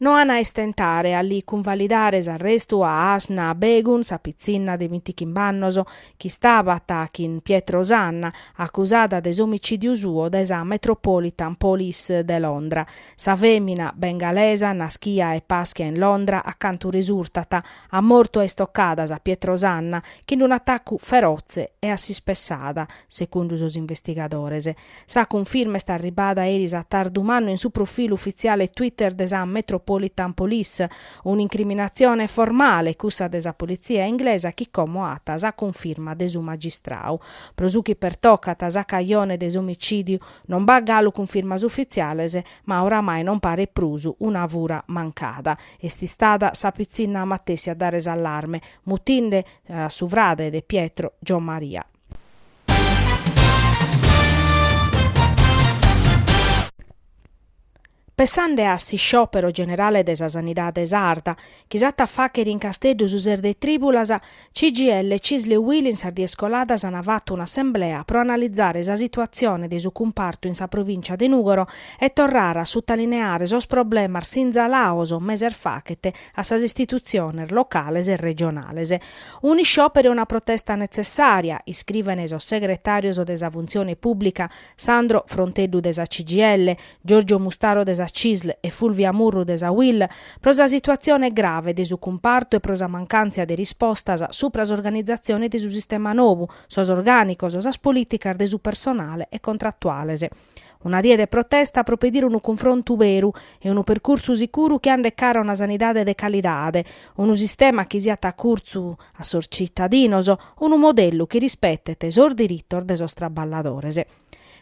No an a istentare a li cunvalidare s'arrestu a Asna Begun, sa pitzinna de bintichimb'annos, chi istabat chin Pietro Sanna, acusada de s'omicìdiu suo dae sa Metropolitan Police de Londra. Sa fèmina, bengalesa, naschia e paschia in Londra, a cantu resurtat, at mortu a istocadas a Pietro Sanna, chin unu atacu ferotze e a s'ispessada, segundu sos investigadores. Sa cunfirma est arribada eris a tardu mannu in su profilu ufitziale Twitter de sa Metropolitan Police. Un'incriminatzione formale, cussa de sa politzia inglesa chi como at sa cunfirma de su magistrau. Pro su chi pertocat sa cajone de s'omicìdiu, non b'at galu cunfirmas ufitziales, ma oramai non paret prus una fura mancada. Est istada sa pitzinna matessi a dare s'allarme, mutinde a su frade de Pietro, Giommaria. Pensende a s'isciòpero generale de sa sanidade sarda, chi s'at a fàghere in Casteddu su ses de trìbulas, CGIL CISL e UIL in sas dies coladas ant fatu un'assemblea pro analizare sa situatzione de su cumpartu in sa provìncia de Nùgoro e torrare a sutalineare sos problemas sinzalados meses faghet a sas istitutziones locales e regionales. Un'isciòperu e una protesta netzessària, iscriven sos segretàrios de sa Funtzione Pùblica Sandro Fronteddu de sa CGIL, Giorgio Mustaro de sa Cisl e Fulvia Murru de sa UIL, pro sa situatzione grave de su cumpartu e pro sa mancantza de rispostas subra s'organizatzione de su sistema nou, sos orgànicos, sas polìticas de su personale e contratuales. Una die de protesta pro pedire unu cunfrontu beru e unu percursu sicuru chi andet cara a una sanidade de calidade, unu sistema chi siat a curtzu a sos tzitadinos, unu modellu chi rispetet sos diritos de sos traballadores.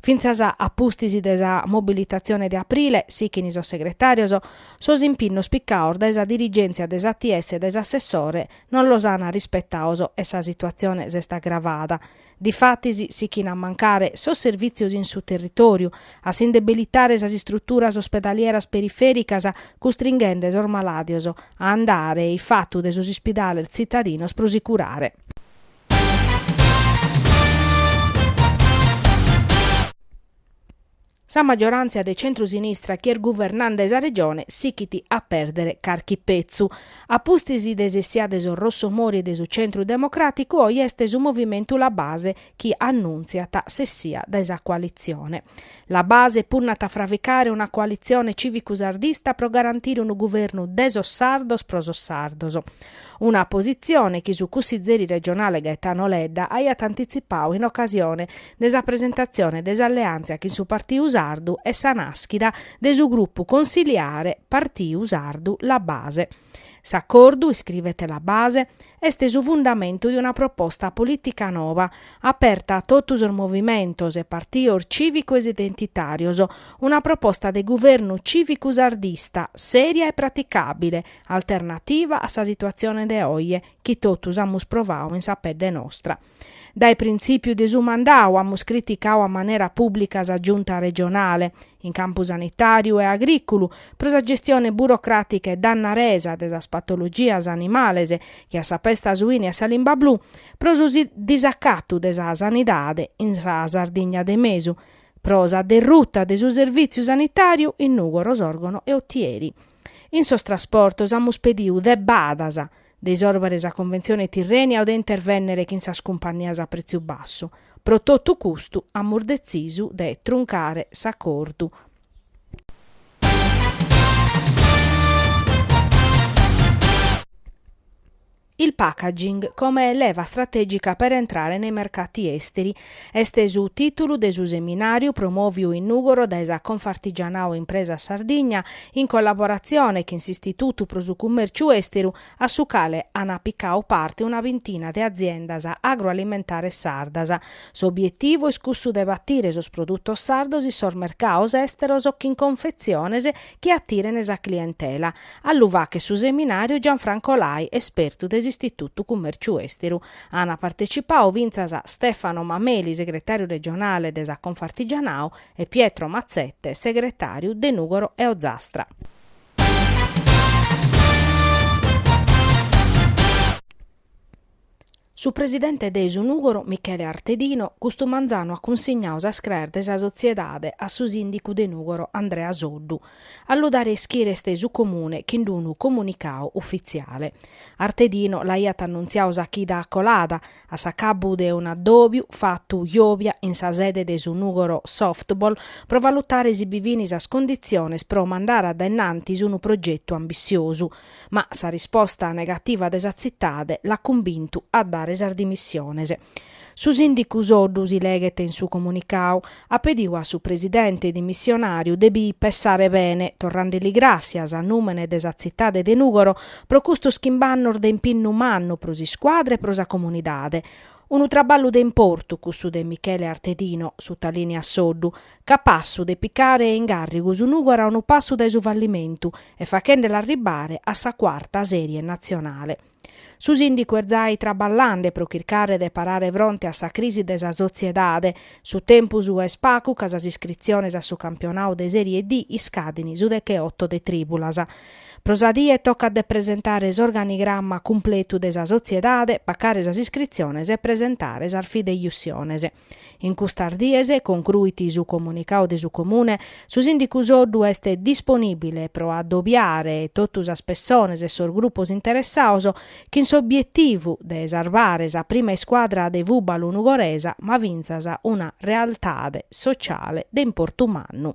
Fintzas a pustis de sa mobilitatzione de aprile, sighint sos segretàrios, sos impinnos picados dae sa dirigèntzia de s'ATS e dae s'assessore non los ant rispetados e sa situatzione s'est agravada. Difatis sichin a mancare sos servìtzios in su territòriu, a s'indebilitare sas istruturas ospedalieras perifèricas custringhende sos malàdios a andare ifatu de sos ispidales tzitadinos pro si curare. Sa maggiorantzia de centru-sinistra chi est guvernende sa Regione sichit a pèrdere carchi petzu. A pustis de s'essia de sos Rossomori e de su Centru Democràticu oi est su movimentu La Base chi annuntziat s'essia dae sa coalitzione. La Base punnat a fraficare una coalitzione cìvicu-sardista pro garantire unu guvernu de sos sardos pro sos sardos. Una positzione chi su cussizeri regionale Gaetano Ledda aiat antitzipadu in ocasione de sa presentatzione de s'alleantzia chin su Partiu Sardu e sa naschida de su grupu consiliare Partiu Sardu La Base. S'acordu, iscrivet La Base, est su fundamentu de una proposta polìtica nova, aperta a totu sos movimentos e partios cìvicos e identitàrios, una proposta de guvernu cìvicu sardista, sèria e praticàbile, alternativa a sa situatzione de oje, chi totus amus provadu in sa pedde nostra. Dae printzìpiu de su mandadu amus criticadu a manera pùblica sa Giunta regionale, in campu sanitàriu e agrìculu, pro sa gestione burocràtica e dannaresa de sas patologias animales che a sa pesta suina e a sa limba blu, pro su disacatu de sa sanidade in sa Sardigna de mesu, pro sa derruta de su servìtziu sanitàriu in Nùgoro, Sòrgono e Otieri. In sos trasportos amus pedidu debbadas, de isòrbere sa Conventzione Tirrènia o de intervènnere chin sas cumpannias a pretziu bassu. Pro totu custu amus detzisu de truncare s'acordu. Il packaging come leva strategica per entrare nei mercati esteri Est su tìtulu de su seminàriu promòviu in Nùgoro dae sa Confartigianao Impresas Sardigna in collaboratzione chin s'Istitutu pro su Cummèrciu Èsteru a su cale an apicadu parte una bintina de aziendas agroalimentares sardas. S'obietivu est cussu de batire sos produtos sardos in sos mercados èsteros chin confetziones chi atiren sa clientela, a lu fàghere su seminàriu Gianfranco Lai, espertu de s'Istitutu Cummèrciu Èsteru. Ant partecipadu fintzas Stefano Mameli segretàriu regionale de sa Confartigianao e Pietro Mazzette segretàriu de Nùgoro e Ozastra. Su presidente de su Nùgoro Michele Artedino custu manzanu at cunsignadu sas craes de sa sotziedade a su sìndicu de Nùgoro Andrea Soddu. a lu dare ischire est su Comune chin d-unu comunicadu ufitziale. Artedino l'aiat annuntziadu sa chida colada, a s'acabbu de un'addòbiu fatu jòbia in sa sede de su Nùgoro Softball, pro valutare si bi fin sas conditziones pro mandare a dae nantis unu progetu ambitziosu. Ma sa risposta negativa de sa tzitade l'at cumbintu a dare sas dimissiones. Su sìndicu Soddu, si leghet in su comunicau, at pediu a su presidente dimissionàriu de bi pessare bene, torrende li gràssias a nùmene de sa tzitade de Nùgoro pro custos chimb'annos de impinnu mannu pro s'iscuadra e pro sa comunidade. Unu traballu de importu cussu de Michele Artedino, sutalìniat Soddu, capassu de picare in càrrigu su Nùgoro a unu passu dae su fallimentu e faghende l'arribbare a sa cuarta sèrie natzionale. Su sìndicu est jai traballande pro chircare de parare fronte a sa crisi de sa sotziedade. Su tempus est pacu ca sas iscritziones a su campionadu de Sèrie D iscadin su deche oto de trìbulas. Pro sa die tocat de presentare s'organigramma cumpletu de sa sotziedade, pacare sas iscritziones e presentare sas fideiussiones. In custas dies, concruit su comunicadu de su Comune, su Sìndicu Soddu est disponìbile pro adobiare totu sas pessones e sos grupos interessaos chin s'obietivu de sarbare sa prima iscuadra de fùbalu nugoresa ma fintzas una realtade sociale de importu mannu.